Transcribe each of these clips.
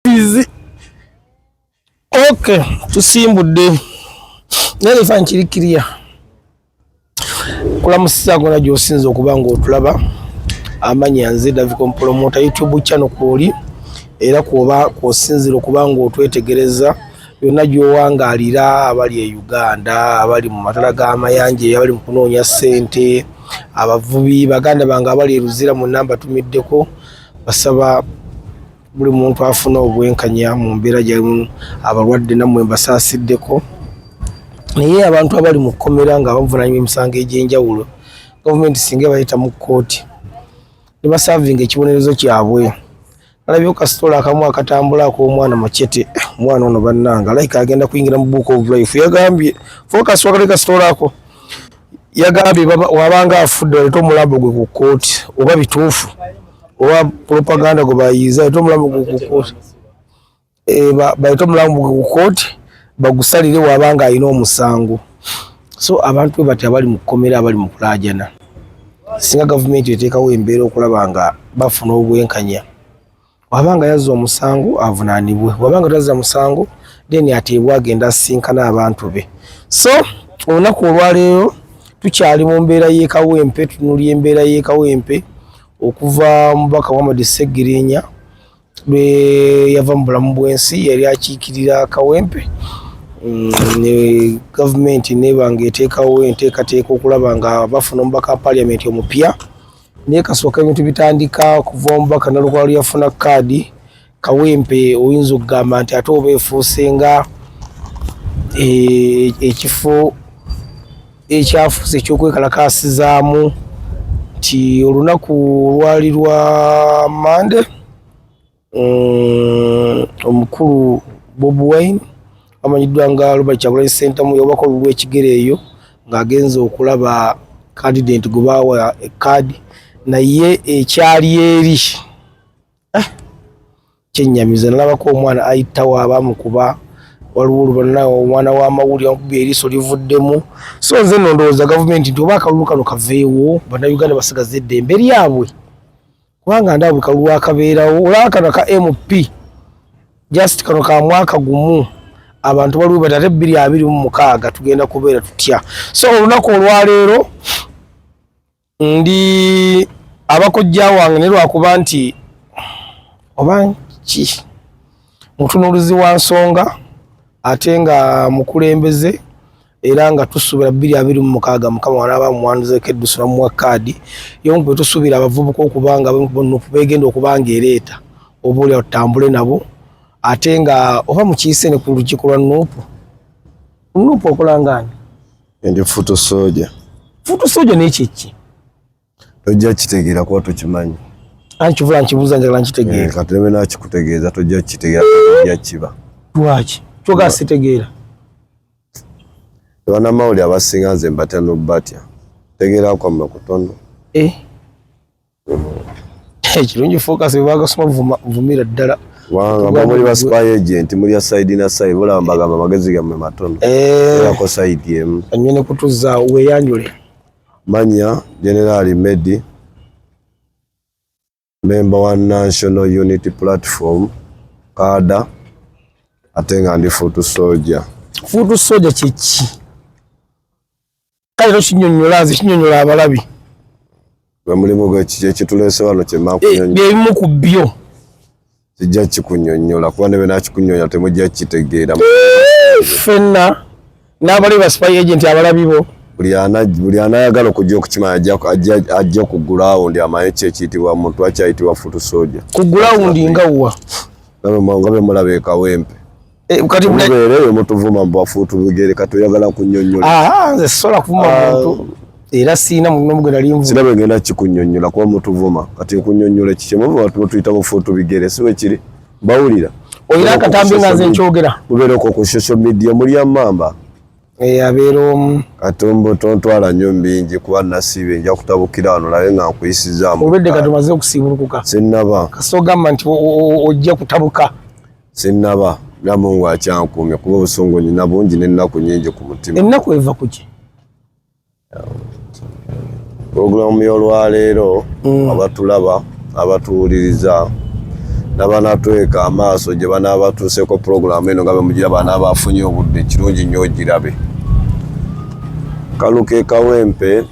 Easy. Okay, tusimbudde naye ekifaananyi kiri kiriya kulamusiza gona gyosinza okuba nga otulaba amanya nze daviko mpolomota youtube channel kwoli era kwoba kwosinzira okuba nga otwetegereza yonna gyowangaalira abali e uganda abali mu matala g'amayanja abali mu kunoonya ssente abavubi baganda bange abali eruzira mu namba tumiddeko basaba buli muntu afuna obwenkanya mu mbeera gyalimu abalwadde nammwe mbasaasiddeko naye abantu abali mu kkomera nga bavunanyuma emisango egy'enjawulo gavumenti singa ebayita mu kkooti ne basaavinga ekibonerezo kyabwe alabye kasitoola akamu akatambula ak'omwana macete omwana ono bannanga alayika agenda kuyingira mu book of life yagambye fokasi wakale kasitoola ako yagambye wabanga afudde aleeta omulambo gwe ku kkooti oba bituufu oba propaganda gwe bayiiza aleeta omulambo gwe ku kkooti eh, baleeta omulambo gwe ku kkooti bagusalire wabanga alina omusango so abantu bwe bati abali mu kkomera abali mu kulaajana singa gavumenti eteekawo embeera okulaba nga bafuna obwenkanya wabanga yazza omusango avunanibwe wabanga tazza musango then ateebwa agenda asinkana abantu be so olunaku olwaleero tukyali mu mbeera y'ekawempe tunulya embeera y'ekawempe okuva mubaka muhammad segirinya lwe yava mu bulamu bw'ensi yali akiikirira kawempe mm, ne gavumenti nebanga eteekawo enteekateeka okulaba nga bafuna omubaka wa paliamenti omupya naye kasooka ebintu bitandika okuva omubaka nalukwalo yafuna kaadi kawempe oyinza okugamba nti ate oba efuuse nga eh, ekifo ekyafuuse ekyokwekalakaasizaamu nti olunaku olwali lwa mande mm, omukulu bob wine amanyiddwa nga robert kyagulanyi sentamu yawako olubu lwekigere eyo ng'agenza okulaba kandidenti gwe baawa ekaadi naye ekyali eri eh, kyenyamiza nalabako omwana ayitawo abamukuba waliwo olubana omwana w'amawulire amukuba eriiso livuddemu so nze no ndowooza gavumenti nti oba akalulu kano kaveewo bannayuganda basigaza eddembe lyabwe kubanga ndaba buli kalulu akabeerawo olaba kano ka mp just kano ka mwaka gumu abantu baliwo bati ate bbiri abiri mu mukaaga tugenda kubeera tutya so olunaku olwaleero ndi abakojja wange ne lwakuba nti oba ki mutunuulizi wa nsonga ate nga mukulembeze era nga tusuubira bbiri abiri mu mukaaga mukama wanaaba muwandizeeko eddusu namuwa kaadi yomu bwe tusuubira abavubuka okuba nga nupu beegenda okuba nga ereeta oba olya tutambule nabo ate nga oba mukiise ne ku lukiiko lwa nupu nupu okolangaani endi futu soja futu soja nekyekki tojja kitegeera kuba tokimanyi ani kivula nkibuuza njagala nkitegeera eh, kati nebe nakikutegeeza tojja kitegeera tojja kiba lwaki kyoga sitegeera banamawuli abasinga nze mbatya nobatya tegeera kwamma kutono eh? eh, kirungi focus webagasoma vumira ddala wanga muli ba spy agent muli ya side na side bulaba mbagamba magezi gamwe matono erako side emu anywe ne kutuza weyanjule Manya Generali Medi, memba wa National Unity Platform kaada ate nga ndi fuutu soja. Fuutu soja kyeki? Kale tokinyonyola nze kinyonyola abalabi. Gwe mulimu gwekiki ekituleese wano kyemakunyonyola? Eh, bye bimu ku byo. kijja kikunyonyola kuba nebe nakikunyonya temujja kitegeera fenna n'abali ba spy agent abalabibo buli ana buli anayagala okujja okukima ajja ku ground amaye kye kiyitibwa muntu akyayitibwa futu soja ku ground nga wa nga bemulaba ekawempe Eh, kati mubeere eyo mutuvuma mbu afuutu bigere kati oyagala kunyonyola ah, nze sisobola kuvuma ah. muntu era siina munomugenda linvu sina bwegenda kikunyonyola kuba mutuvuma kati nkunyonyola kiki muvuma tumutuyita bufuutu bigere si bwekiri bawulira olina akatambi nga nze nkyogera mubeere okwo ku social media mulya mamba eh, abeera omu kati mbu tontwala nnyo mbingi kuba nasiibe nja kutabukira wano labe nga nkuyisizaamu obedde kati omaze okusiibulukuka sinnaba kasita ogamba nti ojja kutabuka sinnaba naye mungu akyankuumye kuba obusungu nyina bungi n'ennaku nyingi ku mutima ennaku eva ku ki pulogulaamu y'olwaleero mm. abatulaba abatuwuliriza nabanatweka amaaso gye banaabatuuseeko pulogulaamu eno nga bemugira banaaba afunye obudde kirungi nnyo ogirabe kaluke kawempe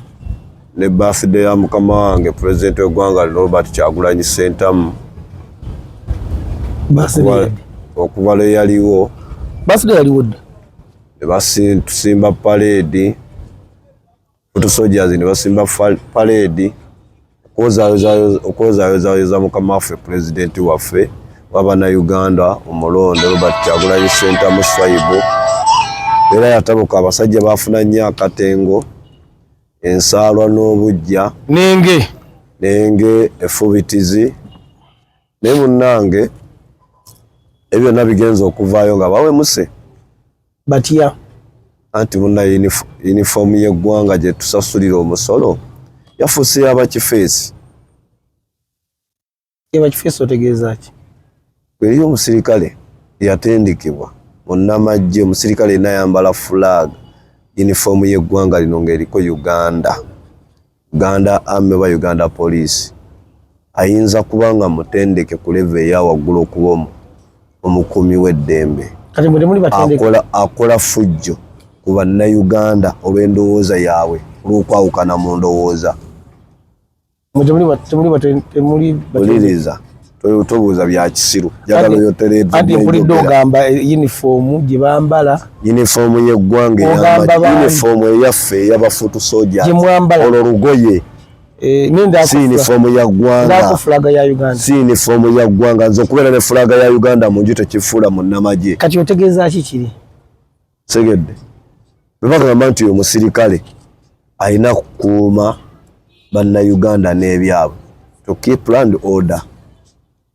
ne birthday ya mukama wange president w'eggwanga lino Robert Kyagulanyi Ssentamu okuva lwe yaliwo birthday yaliwo dda ne batusimba paleedi otusojazi ne basimba paleedi okwozayozayoza mukama waffe pulezidenti waffe wabana uganda omulonde robert kyagulanyi sentamu swaibu era yatabuka abasajja bafuna nnyo akatengo ensaalwa n'obuggya nenge nenge efubitizi naye munnange ebyo byonna bigenza okuvaayo nga bawemuse batya anti munna yunifoomu y'eggwanga gye tusasulira omusolo yafuuse yabakifeesi Eba kifeesi otegeeza ki? Eriyo omusirikale yatendekebwa munnamagye, omusirikale yena ayambala flag yunifoomu y'eggwanga lino ng'eriko Uganda, Uganda Army oba Uganda Police, ayinza kuba nga mutendeke ku leve eya waggulu okuba omukuumi w'eddembe, akola fujjo ku bannayuganda olw'endowooza yaabwe, olw'okwawukana mu ndowooza. oliriza tobuuza bya kisiru njagala oyotereanti mpulidde ogamba yunifoomu gye bambala yunifoomu y'eggwanga eyamba yunifoomu eyaffe eyabafuutu soja olwo lugoye Eh, si yunifoomu ya ggwanga si yunifoomu ya ggwanga nze okubeera ne fulaaga ya uganda mu nju tekifuula munnamagye kati otegeeza ki kiri segedde bebagamba nti oyo musirikale alina kukuuma bannayuganda n'ebyabwe to keep land order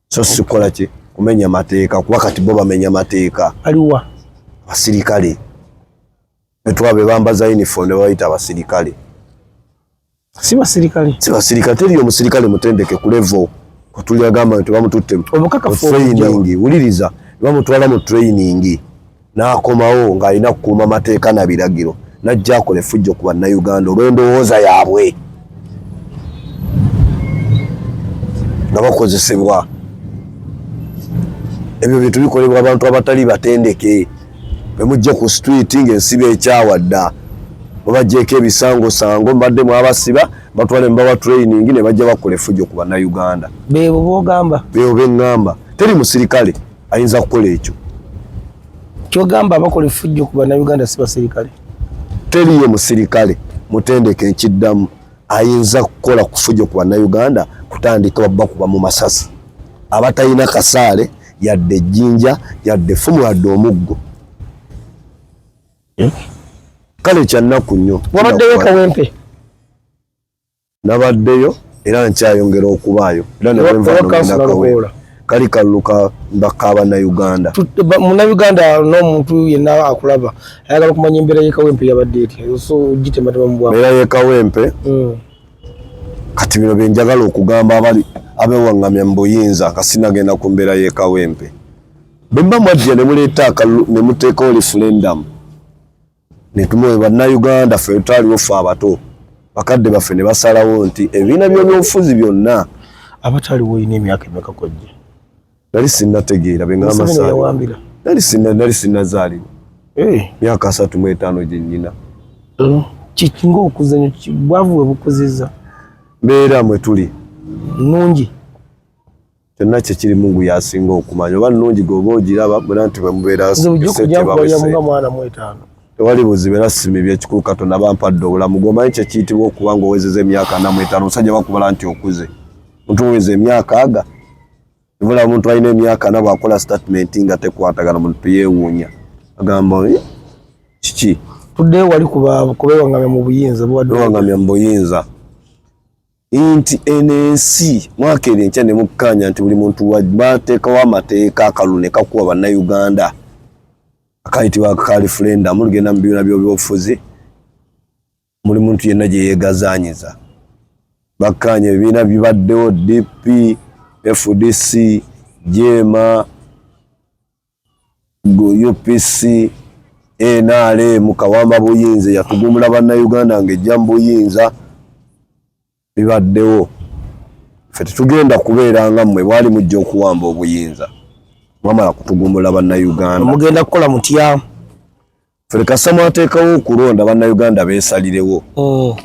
so sikola ki kumenya mateeka kuba kati bo bamenya mateeka aliwa abasirikale betwaba bebambaza uniform ne babayita abasirikale si basirikale si basirikale teri omusirikale mutendeke ku level kutuli agamba nti bamututte obukakafu training wuliriza bamutwala mu training n'akomawo ng'alina kukuuma mateeka na biragiro najja akola effujjo ku bannayuganda olw'endowooza yaabwe nga bakozesebwa ebyo bintu bikolebwa abantu abatali batendeke bemujje ku street nga ensiba ekyawa dda babajjeeko ebisangosango mbadde mwabasiba batwale mubawa training ne bajja bakola efujjo ku bannayuganda bebo bogamba bebo beŋŋamba teri musirikale ayinza kukola ekyo kyogamba abakola efujjo ku bannayuganda si basirikale teriyo musirikale mutendeke nkiddamu ayinza kukola kufujjo ku bannayuganda kutandika babba kuba mu masasi abatalina kasaale yadde ejjinja yadde effumu yadde omuggo eh? kale kyannaku nnyo wabaddeyo kawempe nabaddeyo era nkyayongera okubaayo era newenvanakawera kali kaluluka mbaka abanauganda munauganda nomuntu yenna akulaba ayagala okumanya embeera yekawempe yabadde etya so gitematema mubwa era yekawempe mm. kati bino byenjagala okugamba abali abewaŋŋamya mu buyinza kasinagenda ku mbeera y'ekawempe bwe mba mwajja ne muleeta akalu ne muteekawo lifulendamu ne tumuwe bannayuganda ffe twaliwo ffe abato bakadde baffe ne basalawo nti ebibiina by'obufuzi byonna abataliwo olina emyaka emeka kojja nali sinnategeera be ngamba saawambira nali sinna nali sinnazaalibwa eh. myaka asatu mu etaano gye nnyina eh, kiki ng'okuzanyo bwavu we bukuzizza mbeera mwe tuli nnungi kyonna kye kiri mungu yasinga okumanya oba nnungi gweoba ogiraba muna nti bwe mubeeraojakujakubayamunga mwana mu etaano tewali buzibu era simi byekikulu katonda bampadde obulamu gwomanyi kyekiyitibwa okuba nga owezeza emyaka namu etaano omusajja bakubala nti okuze mutuweza emyaka aga Ibula omuntu alina emyaka ana bw'akola statement nga tekwatagana muntu yeewuunya agamba eh, kiki tuddeyo wali kubeewangamya mu buyinza bewangamya mu buyinza nti eno ensi mwaka eri enkya ne mukkaanya nti buli muntu bateekawo amateeka akalu ne kakuwa bannayuganda akayitibwa ka referendamu ligenda mu bibiina by'obufuzi muli muntu yenna gye yeegazaanyiza bakkaanya ebibiina bibaddewo dp fdc jeema upc nrm kawamba buyinza yatugumula bannayuganda ng'ejja mu buyinza bibaddewo ffe tetugenda kubeera nga mmwe bwali mujja okuwamba obuyinza mwamala kutugumbula bannayuganda mugenda kukola mutya ffe lekasa mwateekawo okulonda bannayuganda beesalirewo oh.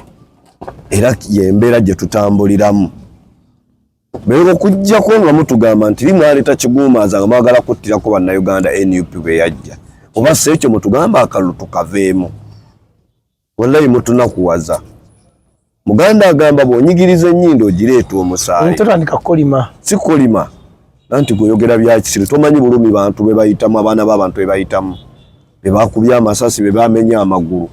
era yembeera gye tutambuliramu naye okujjako nga mutugamba nti limwaleeta kiguumaaza nga mwagala kuttirako bannayuganda nup bwe yajja oba si ekyo mutugamba akalulu tukaveemu Wallahi mutunakuwaza. Muganda agamba bwonyigiriza ennyindo ogireeta omusaayi. Totandika kolima. Si kolima. Nanti gwoyogera byakisiru tomanyi bulumi bantu be bayitamu abaana b'abantu be bayitamu be bakubye amasasi be bamenya amagulu.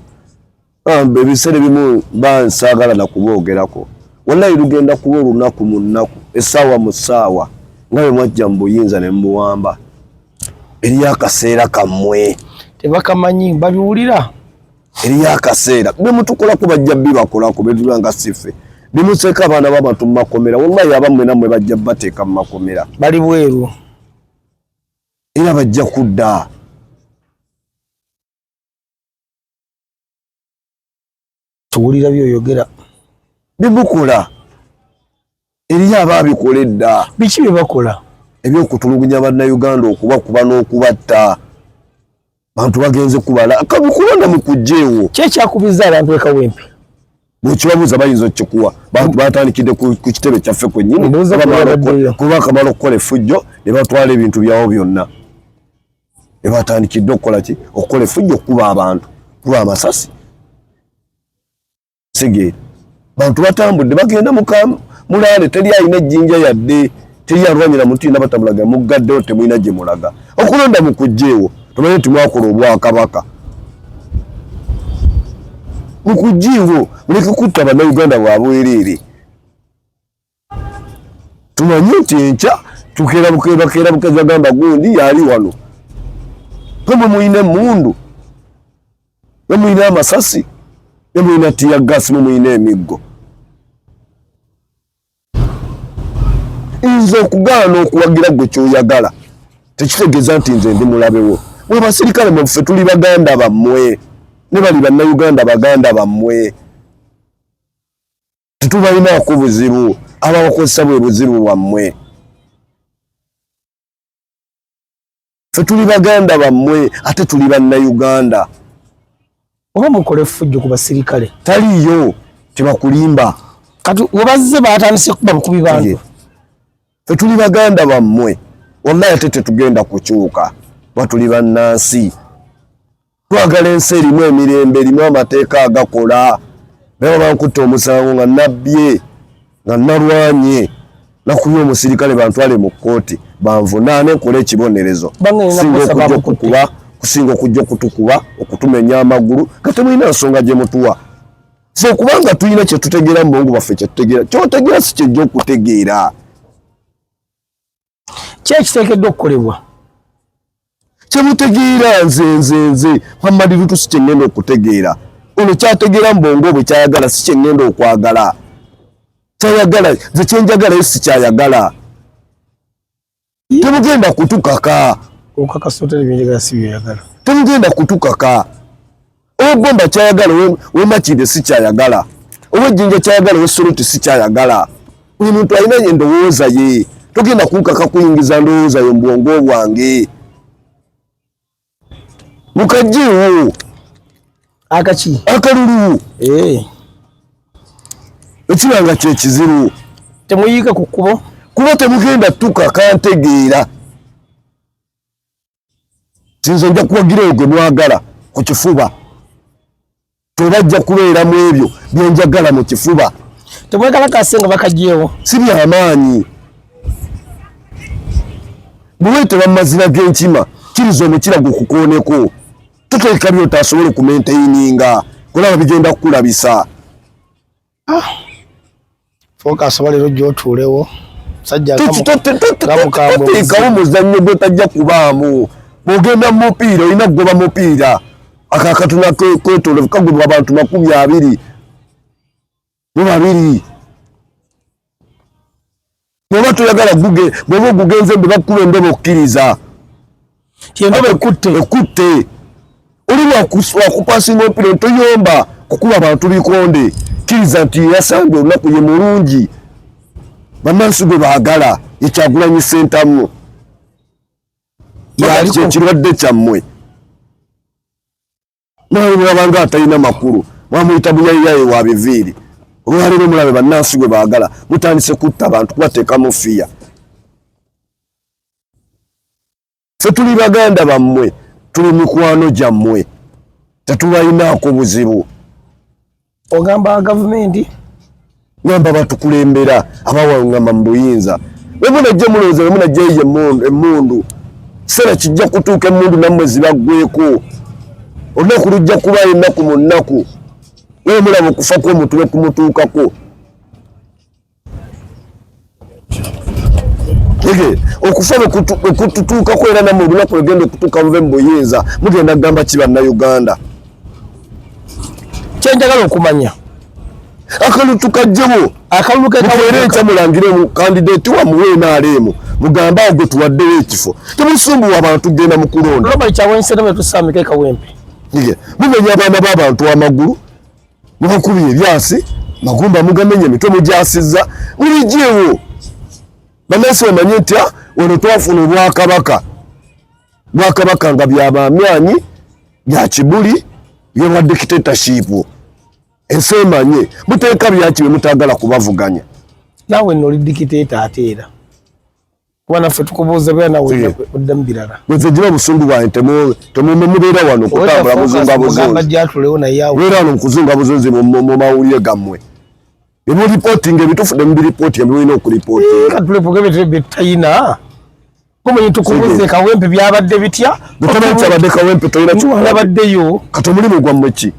Bambi ebiseera ebimu mba nsaagala na kuboogerako. Wallahi lugenda kuba olunaku mu nnaku essaawa mu ssaawa nga bwe mwajja mu buyinza ne mubuwamba. Eriyo akaseera kammwe. Tebakamanyi babiwulira. eriyo akaseera bemutukolako bajja bibakolako betuga nga sife bimuseeko abaana babantu mumakomera wallahi abamwe namwe bajja bateeka mumakomera bali bweru era bajja kudda tuwulira byoyogera bimukola Eriyo abaabikola edda. Biki bye bakola? Eby'okutulugunya Bannayuganda okubakuba n'okubatta. Bantu bagenze kubala kabikulonda mu kujjeewo. Ki ekyakubizza abantu e Kawempe? Bw'okibabuuza bayinza okukikuwa. Bantu baatandikidde ku kitebe kyaffe kwennyini kuba akamala okukola effujjo ne batwala ebintu byawo byonna. Ne baatandikidde okukola ki? Okukola effujjo okukuba abantu, kuba amasasi. segeera bantu batambudde bagenda mulaale teri alina ejjinja yadde teri alwanyira muti nabatamulaga muggaddewo temulina gye mulaga okulonda mu kujjeewo tomanyi nti mwakola obwakabaka mu kujjiiwo muleke kutta bannauganda bwabwereere tumanyi nti enkya tukerabukebakeerabuka zagamba gundi yaali wano kemwe mulina emundu ne mulina amasasi ne mulina tiya gasi ne mulina emiggo nze okugaana okuwagira gwe kyoyagala tekitegeeza nti nze ndi mulabewo mwe basirikale mwefe tuli baganda bammwe ne bali bannayuganda baganda bammwe tetubalinaako buzibu ababakozesa bwe buzibu bwammwe fe tuli baganda bammwe ate tuli bannayuganda oba mukola effujjo ku basirikale taliiyo tebakulimba kati webazze batandise kuba bukubi bantu fe tuli baganda bammwe wallahi ate tetugenda kukyuka batuli bannansi twagala ensi erimu emirembe erimu amateeka agakola naye babankutta omusango nga nabbye nga nalwanye nakuye omusirikale bantwale mu kkooti banvunaane nkole ekibonerezo singa okujja okukuba kusinga okujja okutukuba okutumenya amagulu nga temulina nsonga gye mutuwa fe kubanga tulina kyetutegeera mu bongo baffe kyetutegeera kyotegeera si kyejja okutegeera ki ekiteekeddwa okukolebwa kyemutegeera nze nze nze muhammadi lutu si kyengenda okutegeera ono kyategeera mbongo bwe kyayagala si kyengenda okwagala kyayagala nze kyenjagalayo si kyayagala temugenda kutukaka temugenda kutukaka owegomba kyayagala wemakide sikyayagala owejinja kyayagala owesoloti sikyayagala buli muntu alina endowooza ye togenda kunkaka kuyingiza ndowooza yo mubwongo bwange mukajiwo akaki akalulu eh. ekibanga kyekizibu temuyiika ku kkubo kuba temugenda tuka kantegeera tinze nja kuwagira oyo gwe mwagala ku kifuba tebajja kubeera mu ebyo byenjagala mu kifuba tebwekalakase nga bakagyewo si byamaanyi bweweteba mu mazina g'enkima kiriza omukira gwe kukooneko toteeka byotaasobola okumenteyininga kulaba bigenda kukulabisa ah. focus wali rojo otuulewo musajja muzannyo gwetajja kubaamu bwogenda mumupiira olina kugoba mupiira akakatuna kwetolovu kagobwa abantu makumi abiri mu babiri bwoba toyagala guge bwoba ogugenze mbe bakuba endobo okkiriza endobo ekutte ekutte oli wakupasinga omupira ntoyomba kukuba bantu bikonde kkiriza nti yasambye olunaku ye mulungi bamansi gwe baagala ekyagulanyi sentamu yaliko ekirwadde kyammwe naye bwabanga atalina makulu mwamuyita buyayiyaye wa biviiri olwaleero mulabe bannansi gwe baagala mutandise kutta abantu kubateekamu fiya fe tuli baganda bammwe tuli mikwano gyammwe tetubalinaako buzibu ogamba gavumenti ngamba batukulembera abawangama mu buyinza wemunajja mulowooza wemunajja eyo emundu kiseera kijja kutuuka emundu nammwe zibaggweko olunaku lujja kuba ennaku mu nnaku wemulaba okufa kwomutuwe kumutuukako ege okufa okututuukako era namwe olunaku lwegenda okutuuka muve mu buyinza mugenda kugamba ki bannayuganda kyenjagala okumanya akalulu tukajjewo akalulu kekaweera enkya mulangire kandidati wamuwe enaaleemu mugambe awo gwe tuwaddewo ekifo temusumbuwa abantu genda mu kulonda mumenya abaana b'abantu amagulu mubakubye ebyasi magumba mugamenye mitwe mugyasizza mubijeewo bannansi bamanye nti ah, wano twafuna obwakabaka bwakabaka nga byabamyanyi bya kibuli byoba dictatorship ensi emanye muteeka byaki bye mutagala kubavuganya nawe noli dictator ate era kuba naffe tukubuuza bera nawe odda mu birala nze gira obusungu bwange temumbe mubeera wano kutambula buzunga buzunzibeera wano mukuzunga buzunzi mu mawulire gammwe ebiripootinga ebituufu ne mubiripootinga byolina okuripootingatulepogabetebetayina kumanyi tukubuze kawempe byabadde bitya tomanyi kyabadde kawempe tolina kiwabaddeyo kati omulimu gwammwe ki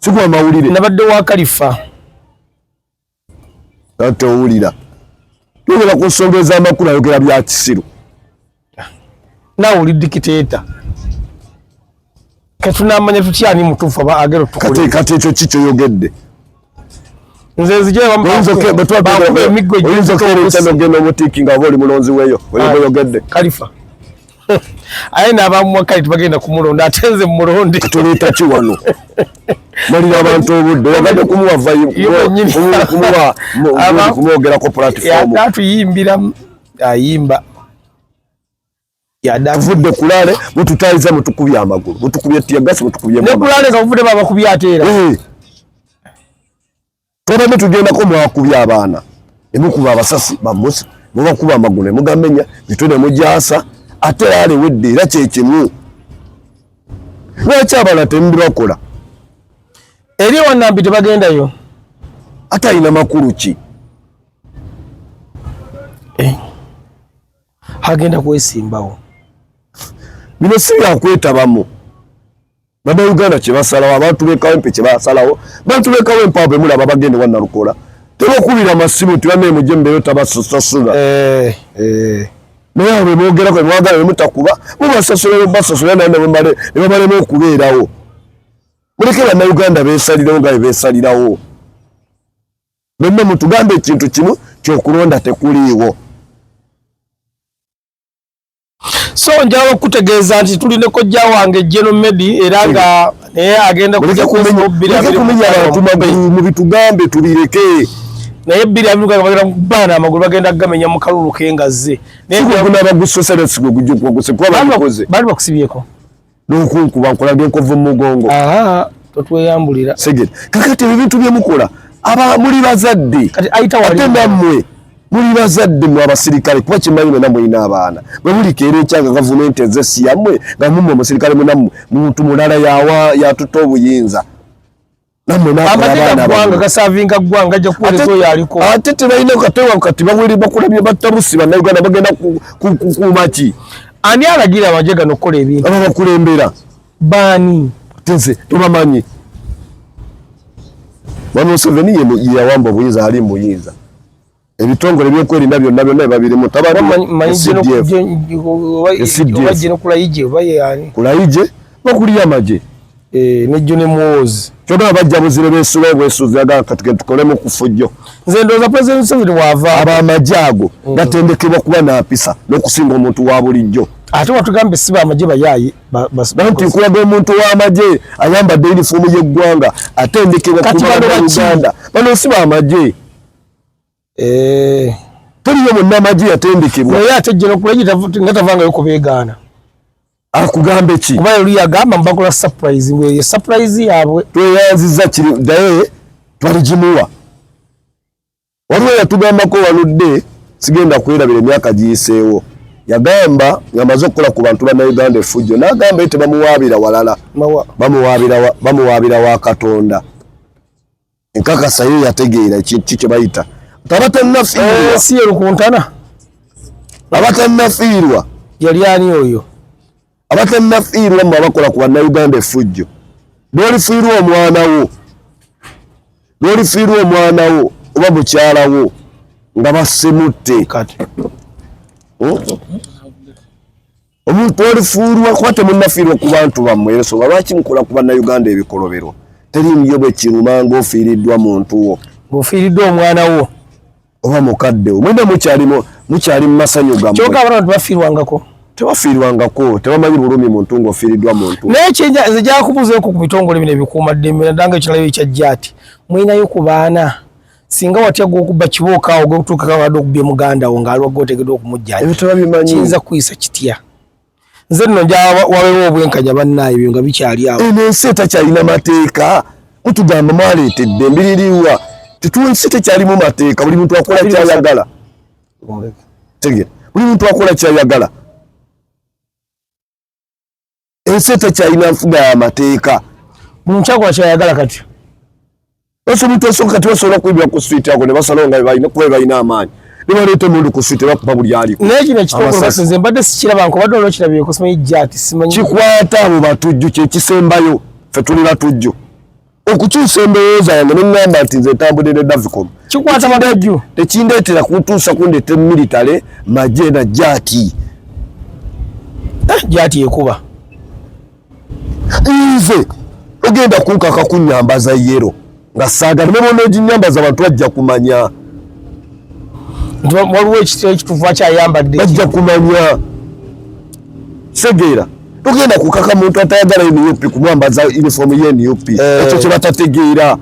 sigwa mawulire nabadde wa kalifa Kati owulira tubera ku nsonga ez'amakulu ayogera bya kisiru. Nawe oli dikiteeta kati tunamanya tutya ani mutuufu aba agero tukule. Kati ekyo ki kyoyogedde? Nze nzije bambakuba emiggo gy'oyinza okubeera ekyano genda omutiiki nga oba oli mulonzi weeyo oyoyogedde. Kalifa aye n'abamuwa kale tebagenda kumulonda ate nze mumulonde tuleeta ki wano malira abantu obudde wagadde kumuwakumwogerako platform atuyimbira ayimba yadavudde kulale mututayiza mutukubye amagulu mutukubye tiyagasi mutukubye nekulale nga muvude babakubye ateera eh. Twabadde tugendako mwakubye abaana ne mukuba abasasi bamusi ne bakuba amagulu ne mugamenya mitwe ne mugyasa ate era lewedde era kye kimu. Lwaki abalala temubibakola? Eri wannambi tebagendayo ate alina makulu ki? Eh, agenda kwesimbawo. Bino si byakwetabamu. Baba Uganda kibasalawo abantu be kawempe kibasalawo bantu be kawempe abo mula baba gende wanna lukola tebo kubira masimu tiwa ne mujje mbere tabasusa suga eh eh naye abo bebogera ko mwagala ne mutakuba mubasasula ne basasula na ne mbale ne mbale mu kubeerawo mulekera na Uganda besalirawo nga besalirawo bembe mutugambe ekintu kimu kyokulonda tekuliiwo so njala okutegeeza nti tuli ne kojja wange jeno medi era nga naye agenda kuja kuminyamubitugambe tubireke naye biri abiruka bagenda kubana amagulu bagenda kugamenya mu kalulu kengazze naye gwe gunaba gusosera sigwe gujja kubagusa kuba bakukoze bali bakusibyeko nokunkuba nkulabye nkovu mumugongo totweyambulira segere kakati ebyo bintu byemukola aba muli bazadde ate nammwe muli bazadde mwe abasirikale kuba kimanyi mwena mulina abaana bwe mulikeera ekyanga gavumenti eze siyammwe nga mumwe omusirikale munammwe muntu mulala yatuta obuyinza ate tebalina katewa kati bawere bakulabye battabusi bannayuganda bagenda kukuumaki ani alagira amagye gano okukola ebintu aba bakulembera baani tense tubamanyi bamuseveni yeyawamba obuyinza ali muyinza ebitongole ebyokwerinda byonna byonna ebabirimu tabakulayije bakulira amagye eh, nejjo ne muwoozi kyogala bajja buzire besula obwesuuzi agala kati ketukolemu kufujjo nze ndowooza president museveni waava abo amagye ago mm. gatendekebwa kuba nampisa n'okusinga omuntu wa bulijjo ate watugambye si bamagye bayaaye banti nkulaga omuntu w'amagye ayambadde yunifoomu y'eggwanga atendekebwa kuba uganda bano si bamagye eh teriyo munnamagye yatendekebwa naye ate jenokulegi nga tavangayo kubeegaana akugambe ki kuba yali yagamba mbakola surprise weeye surprise yaabwe tweyanziza kiri naye twaligimuwa waliwo yatugambako waludde sigenda kwerabira emyaka giyiseewo yagamba ngamaze okukola ku bantu banauganda efujjo nagamba ye tebamuwaabira walala bamuwaabira wa katonda nkakasa yo yategeera ekintu ki kyebayita tabatannafiirwasi eh, yerukuntana abatannafiirwa yali ani oyo abatannafiirwa mwe abakola ku bannauganda efujjo lwolifiirwa omwana wo lwolifiirwa omwana wo oba mukyala wo nga basimutte hmm? omuntu olifuulwa kuba temunafiirwa ku bantu bammwe ensonga lwaki mukola ku bannayuganda ebikolobero teri myo bwe kiruma ng'ofiiriddwa muntu wo ng'ofiiriddwa omwana wo oba mukadde wo mwena mukyali mu masanyu gammwe kyoka abana bantu bafiirwangako tebafiirwangako tebamanyi bulumi muntu ng'ofiiriddwa muntu naye nze gyakubuzeeko ku bitongole bino ebikuuma ddembe naddanga ekiralayo ekyajja ati mulinayo ku baana singa watya gwokubba kibooka awo gwetuukako abadde okubbye muganda wo ngaali wagga otegedwa okumujjanjabakiyinza kukuyisa kitya nze nno nja wabewo obwenkanya bannaayo ebyo nga bikyali awo eno ensi etakyalina mateeka mutugamba mwaleetedde mbiririwa tetunsi tekyalimu mateeka buli muntu akola kyayagala tegera buli muntu akola kyayagala ensi etakyalina nfuga ya mateeka buli mukyakula kyayagala kati ese omuntu osoka kati basobola okuibira ku switi ako nebasalawo nga balina kuba balina amaanyi nebaleeta omuntu ku switi bakuba buli aliko naye kino ekitongole mbadde sikiraba nkobadde olwo kirabire kusimanyi jati simanyi kikwata abo batujju kyekisembayo fe tuli batujju okukyusa endowooza yange neŋŋamba nti nze ntambudde ne davicom kikwata magajju tekindeetera kuntuusa kundeeta emiritale maje na jaati eh, jaati ekuba nze ogenda kunkaka kunyambaza yero nga saagala ne bona oginyambaza abantu bajja kumanya waliwo ekitufwa kyayambadde bajja kumanya segera tugenda kukaka muntu atayagala nup kumwambaza uniform ye nup eh. ekyo kyebatategeera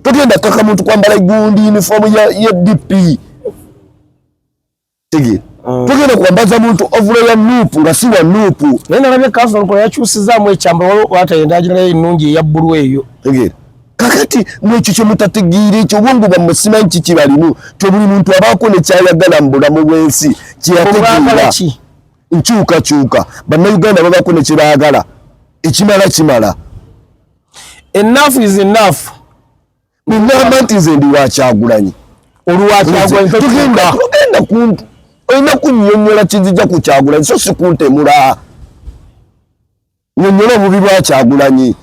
tugenda kukaka muntu kwambala gundi uniform ye dp tegeera mm. tugenda kwambaza muntu ovulo ya nup nga si wa nup naye nalabye kansolo nkola yakyusizaamu ekyambalo waliwo atayenda agiralayo ennungi eya bbulu eyo tegeera kakati mwekyo kyemutategeera ekyo obwongo bwammwe simanyi kiki balimu to buli muntu abaako nekyayagala mu bulamu bwensi kyeyategeera nkyukakyuka bannayuganda babaako nekyebaagala ekimala kimala enough is enough ngamba nti nze ndi wakyagulanyi olwakyagulanyitugenda kuntu olina kunyonyola kizija kukyagulanyi so sikuntemulaa Nyonyola obubi bwa Kyagulanyi.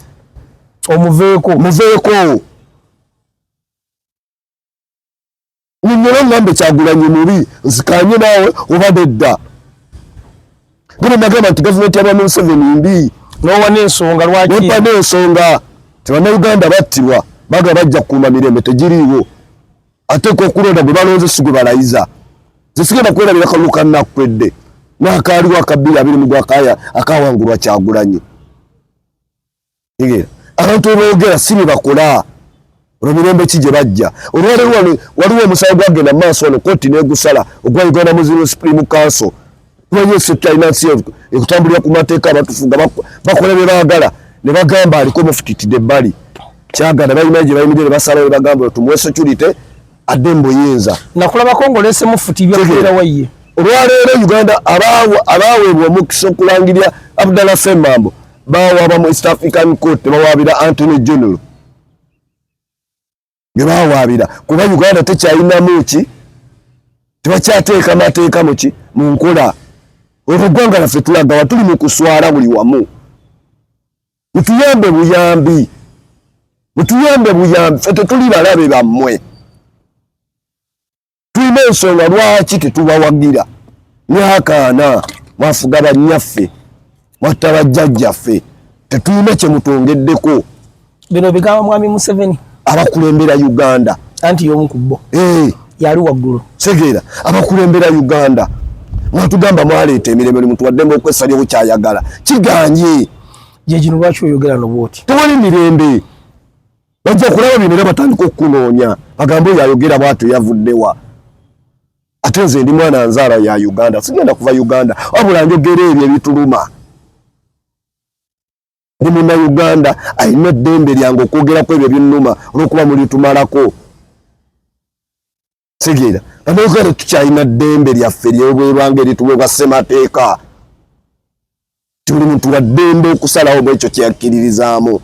Omuveeko. Muveeko. Nyonyola ngambe Kyagulanyi mubi nzikanye nawe oba dedda. Bino nagamba nti gavumenti ya Bwana Museveni mbi. N'owa n'ensonga lwaki? N'owa n'ensonga nti Bannayuganda battibwa baga bajja kukuuma mirembe tegiriiwo. ate ko okulonda gwe balonze si gwe balayiza nze sigenda kwerabira kalulu kannakukwedde n'akaaliwo akabbiri abiri mu gwakaya akawangulwa kyagulanyi abantu oboogera si bye bakola olwo mirembe ki gye bajja olwaleero wano waliwo omusawo gwagenda mu maaso wano kooti n'egusala ogwa uganda muslim supreme council Waliwo sekta alina nsi ekutambulira ku mateeka abatufuga bakola bye baagala ne bagamba aliko mufutitide ebbali kyagala balina gye bayimirira ne basalawo ne bagamba tumuwe security adde mu buyinza. Nakulabako ng'oleese mufuti byakubeera wayiye. Olwaleero Uganda abaaweebwa omukisa okulangirira Abdallah Ssemambo bawaaba mu East African Court ne bawaabira Anthony General. bye bawaabira kuba uganda tekyalinamu ki tebakyateeka mateeka muki mu nkola olwo eggwanga laffe tulagawa tuli mu kuswala buli wamu mutuyambe buyambi mutuyambe buyambi fe tetuli balabe bammwe tulina ensonga lwaki tetubawagira myaka ana mwafuga bannyaffe mwatta bajjajjaffe tetulina kyemutwongeddeko bino bigambo mwami museveni abakulembera uganda anti yomu ku bo eh. yali waggulu segera abakulembera uganda mwatugamba mwaleeta emirembe oli muntu waddembe okwesalyawo kyayagala kiganye gyegino lwaki oyogera nobwoti tewali mirembe bajja kulaba bino era batandika okukunoonya bagambe oyo ayogera bwatyo yavuddewa ate nze ndi mwana nzaala ya uganda sigenda kuva uganda wabula njogera ebyo ebituluma ndi muna uganda alina eddembe lyange okwogerako ebyo binuma olwokuba mulitumalako kitegeera banauganda tukyalina ddembe lyaffe lyobwerwanga erituweebwa ssemateeka ti buli muntu wa ddembe okusalawo mu ekyo kyeyakkiririzaamu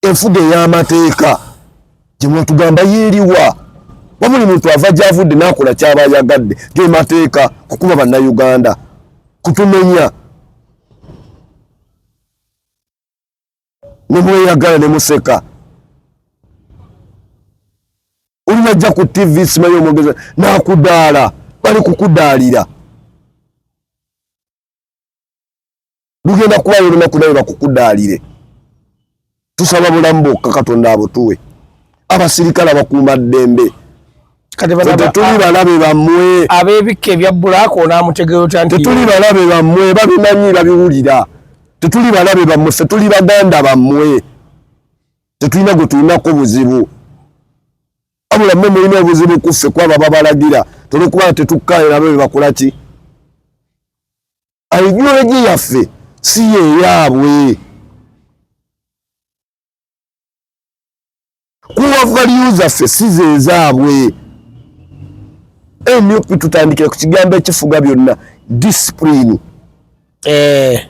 enfuga ey'amateeka gye mwatugamba yeeriwa wa buli muntu ava gyavudde n'akola kyaba ayagadde ge mateeka kukuba bannayuganda kutumenya ne mweyagala ne museka olinajja ku tv simanyi omwogeza nakudaala bali kukudaalira lugenda kuba olunaku nawe bakukudaalire tusaba bulamu bwokka katonda abutuwe abasirikale abakuuma ddembe tetuli balabe bammwe ab'ebikka ebya bbulaaka onaamutegeera otya nti tetuli balabe bammwe babimanyi babiwulira tetuli balabe bammwe ffe tuli baganda bammwe tetulina gwe tulinako buzibu wabula mmwe mulina obuzibu ku ffe kwabo ababalagira tolwokuba tetukkayo nabo be bakola ki aigulolegi yaffe si yeyaabwe kuwa value zaffe si zezaabwe nup tutandikira ku kigambo ekifuga byonna discipline eh.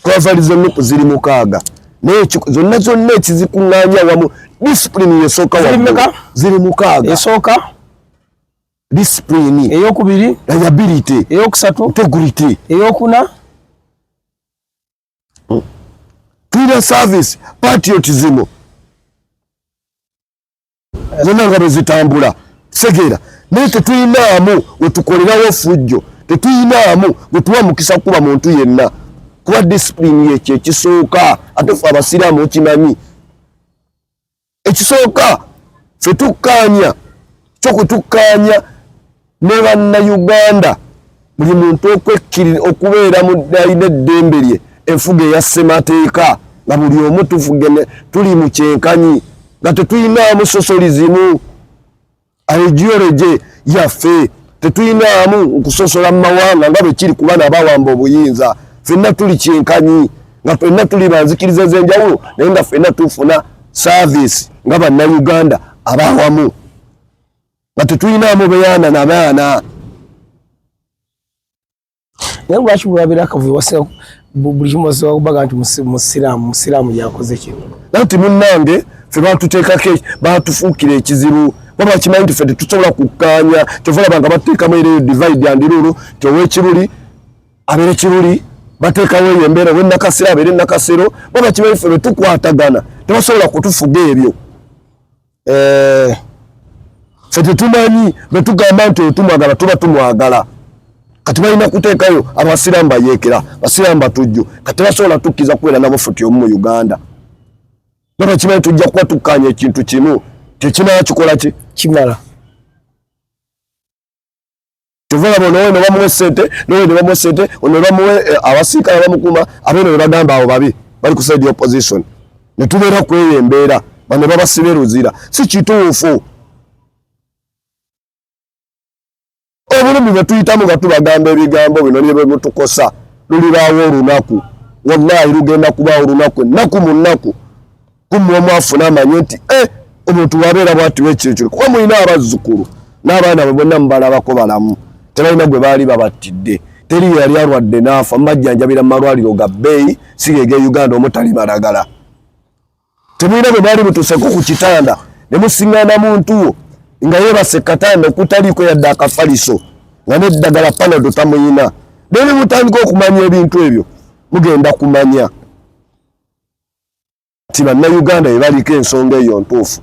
kuwa value za nup ziri mukaaga naye zonna zonna ekizikuŋŋanya wamu discipline yesooka ziri mukaaga esooka discipline eyokubiri liability eyokusatu integrity eyokuna tulina service patriotism zonna nga bwezitambula segera naye tetulinaamu wetukolerawo fujjo tetulinaamu wetuwa mukisa kukuba muntu yenna kuba disipulini yekyo ekisooka ate fe abasiraamu okimanyi ekisooka fe tukkaanya kyokutukkaanya ne bannayuganda buli muntu okwekkirira okubeera mu ddaina eddembe lye enfuga eya ssemateeka nga buli omu tufugene tuli mu kyenkanyi nga tetulinaamu sosoli zimu aejiyoreje yaffe tetuyinaamu nkusosola mu mawanga nga bwe kiri kuba nabawamba obuyinza fenna tuli kyenkanyi nga fenna tuli banzikiriza ez'enjawulo naye nga fenna tufuna saavisi nga bannayuganda abawamu nga tetuyinaamu beyaana na baana naye lwaki bwebabera akavuyo wasira buli kimu basobola kubaga nti musiraamu musiraamu yakoze kino naye nti munnange fe batuteekako batufuukira ekizibu kuba bakimanyi nti fe tetusobola kukkaanya kyova olaba nga bateekamu era eyo divide and rule ti owekiruli abeere kiruli bateekawo eyo embeera owenakasero abeere nakasero ba bakimanyi fe betukwatagana tebasobola kutufuga ebyo eh, fe tetumanyi bwetugamba nti otumwagala tuba tumwagala kati balina kuteekayo abasiraamu bayeekera basiraamu batujju kati basobola tukkiriza kubeera nabo futi omu mu uganda naba kimanyi tujja kuba tukkaanya ekintu kimu tekinaba kikola ki kimala kyova laba onowe nebamuwa esente nowe nebamuwa esente ono nebamuwa eh, abasiikala bamukuma abeno nebagamba abo babi bali ku side opposition netubeera kweyo embeera bano babasibe luzira si kituufu obulumi bwetuyitamu nga tubagamba ebigambo bino nibyo bwemutukosa lulibaawo olunaku wallahi lugenda kubaawo olunaku ennaku mu nnaku kumwe omu afuna amanye nti eh, omuntu wabeera bwatiwa ekyekyo kuba mulina abazzukulu n'abaana bwe bonna mubalabako balamu tebalina gwe baali babattidde teri yali alwadde n'afa mubajjanjabira mu malwaliro ga bbeeyi sigege uganda omutali balagala temulina bwe baali butuseko ku kitanda ne musingana muntu wo nga yebase katanda okutaliiko yadde akafaliso nga neddagala panado tamuyina naye ne mutandika okumanya ebintu ebyo mugenda kumanya nti bannayuganda bebaliko ensonga eyo ntuufu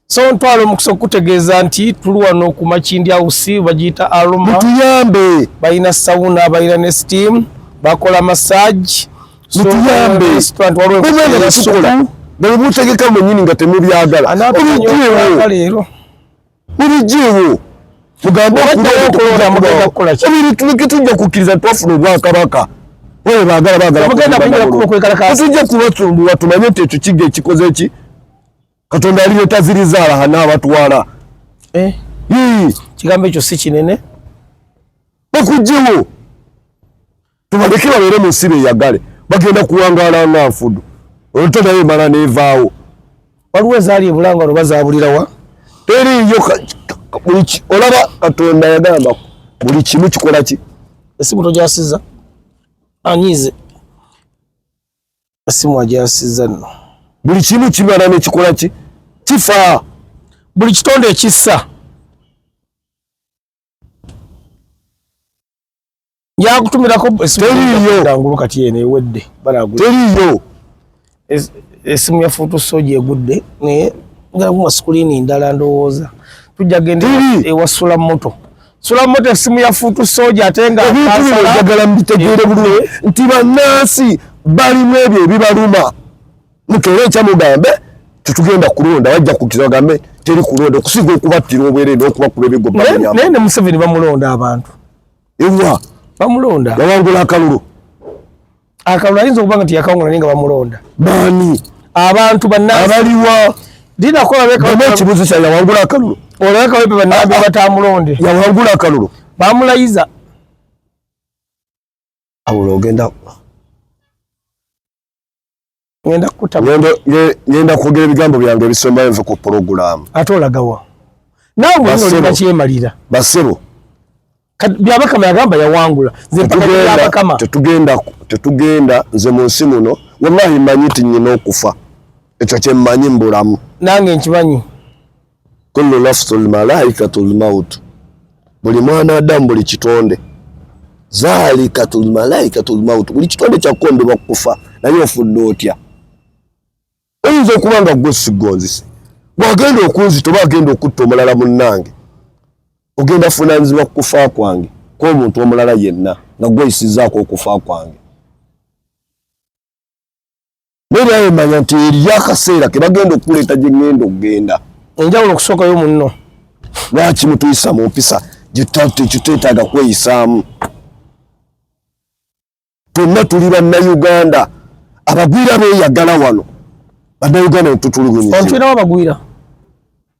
so ntwala omukisa okutegeeza nti tuli wano ku makindi house bagiyita aroma mutuyambe balina sauna balina ne steam bakola massage mutuyambe bwebutegeka mwenyini nga temubyagala birijiwo mugambe okulaokulakitujja kukkiriza twafuna obwakabaka oyo bagala bagalatuja kubasumbuwa tumanye nti ekyo kiga ekikoze eki katonda yali yetazirizaala hana abatwala eh? kigambo ekyo si kinene bakujiwo tubaleke babeere mu nsi beyagale bagenda kuwangaala nga nfudu olto naye emala nevaawo waliwo ezaali ebulanga no bazabulirawa teriiyo olaba katonda yagamba buli kimu kikola ki esimu tojasiza anyize esimu ajasiza no buli kimu kimala nekikola ki kifa buli kitonde ekissa yakutumirako esimu kati eno ewedde teriyo esimu ya foto soja egudde naye ngakuma sikulini ndala ndowooza tujja genda ewasula moto sula moto esimu ya foto soja ate nga ebintubiojagala mubitegeere bulungi nti bannansi balimu ebyo ebibaluma mukere ekya mugambe tetugenda kulonda wajja kukiza bagambe teri kulonda okusiga okubattira obwere n'okubakuba ebigo naye ne museveni bamulonda abantu ewa bamulonda yawangula akalulu akalulu ayinza okuba nga tiyakawangula naye nga bamulonda bani abantu banabaliwa dinakobaekibuzo kya yawangula akalulu olabekawepe banabataamulonde yawangula akalulu bamulayiza awulo ogenda ngenda kukuta ngenda kwogera ebigambo byange ebisembayo nve ku pulogulaamu ate olagawa naawe mwenolina kyemalira basebo byabakama yagamba yawangula nzepakabakama tetugenda tetugenda nze mu nsi muno wallahi manyi ti nyina okufa ekyo kyemmanyi mbulamu nange nkimanyi kullu nafsu lmalaikatu lmautu, buli mwana adamu buli kitonde zalikatu lmalaikatu lmautu, buli kitonde kyakukondebwa kukufa. Naye ofudde otya? Oyinza okuba nga gwe sigonzise, bwagenda okunzita oba agenda okutta omulala munnange, ogenda funanyizibwa kukufa kwange kwomuntu omulala yenna nga gweyisizaako okufa kwange. naye bayemanya nti eriyo akaseera kebagenda okukuleeta gyengenda okugenda enjawulo okusookayo munno lwaki mutuyisa mu mpisa gyetwetaaga kweyisaamu tonna tuli bannayuganda abagwira beyagala wano bannayuganda netutulugunyizibwa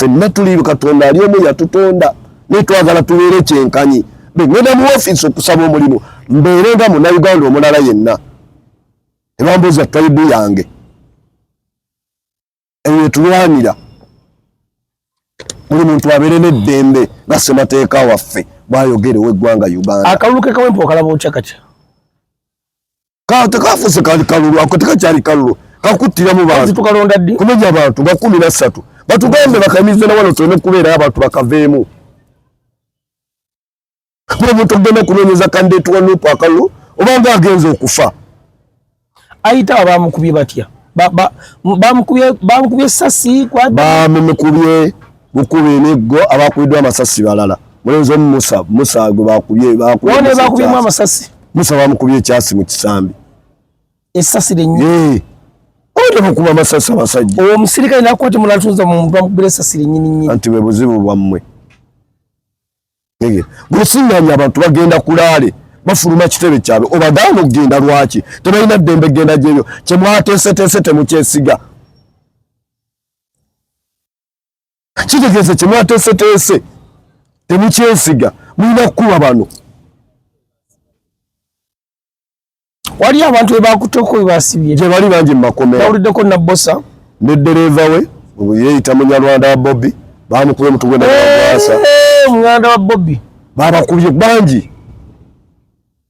fenna tuli katonda ali omu yatutonda naye twagala tubeere kyenkanyi bengenda mu ofiisi okusaba omulimu mbeere nga munauganda omulala yenna ebambuuza taibu yange eyo yetulwanira buli muntu abeere n'eddembe nga ssemateeka waffe bwayogera ow'eggwanga uganda akalulu kekawempa okalaba okya katya ka tekafuse kali kalulu ako tekakyali kalulu kakuttira mu bantu tukalonda ddi kumenya abantu nga kumi na ssatu batugambe bakamize na wano tuleme kubeerayo abantu bakaveemu kuba omuntu okugenda okunoonyeza kandideeti wa nupu akalulu obanga agenza okufa ayita abamukubye batya bamukubye sasi bamumukubye bukuba emiggo abakubiddwa amasasi balala mulenzi omu musa musa gwe bakubye bakubyemu amasasi musa bamukubye ekyasi mu kisambi esasi lenyini oyo mukuba amasasi abasajja owo omusirikale nakwate mulatunza mumuntu bamukubira esasi lenyini nyini anti bwe buzibu bwammwe gwesinganyi abantu bagenda kulaale bafuluma kitebe kyabwe obagaana okugenda lwaki tebalina ddembe genda gyebyo kyemwateeseteese temukyesiga kitegeeza kye mwateeseteese temukyesiga mulina kukuba bano wali abantu bebakuteko webasibye gye bali bangi mumakomera awuliddeko nabbosa ne ddereeva we yeyita munyarwanda wa bobbi bamukube mutugwe naasa omuganda wa bobbi babakubye bangi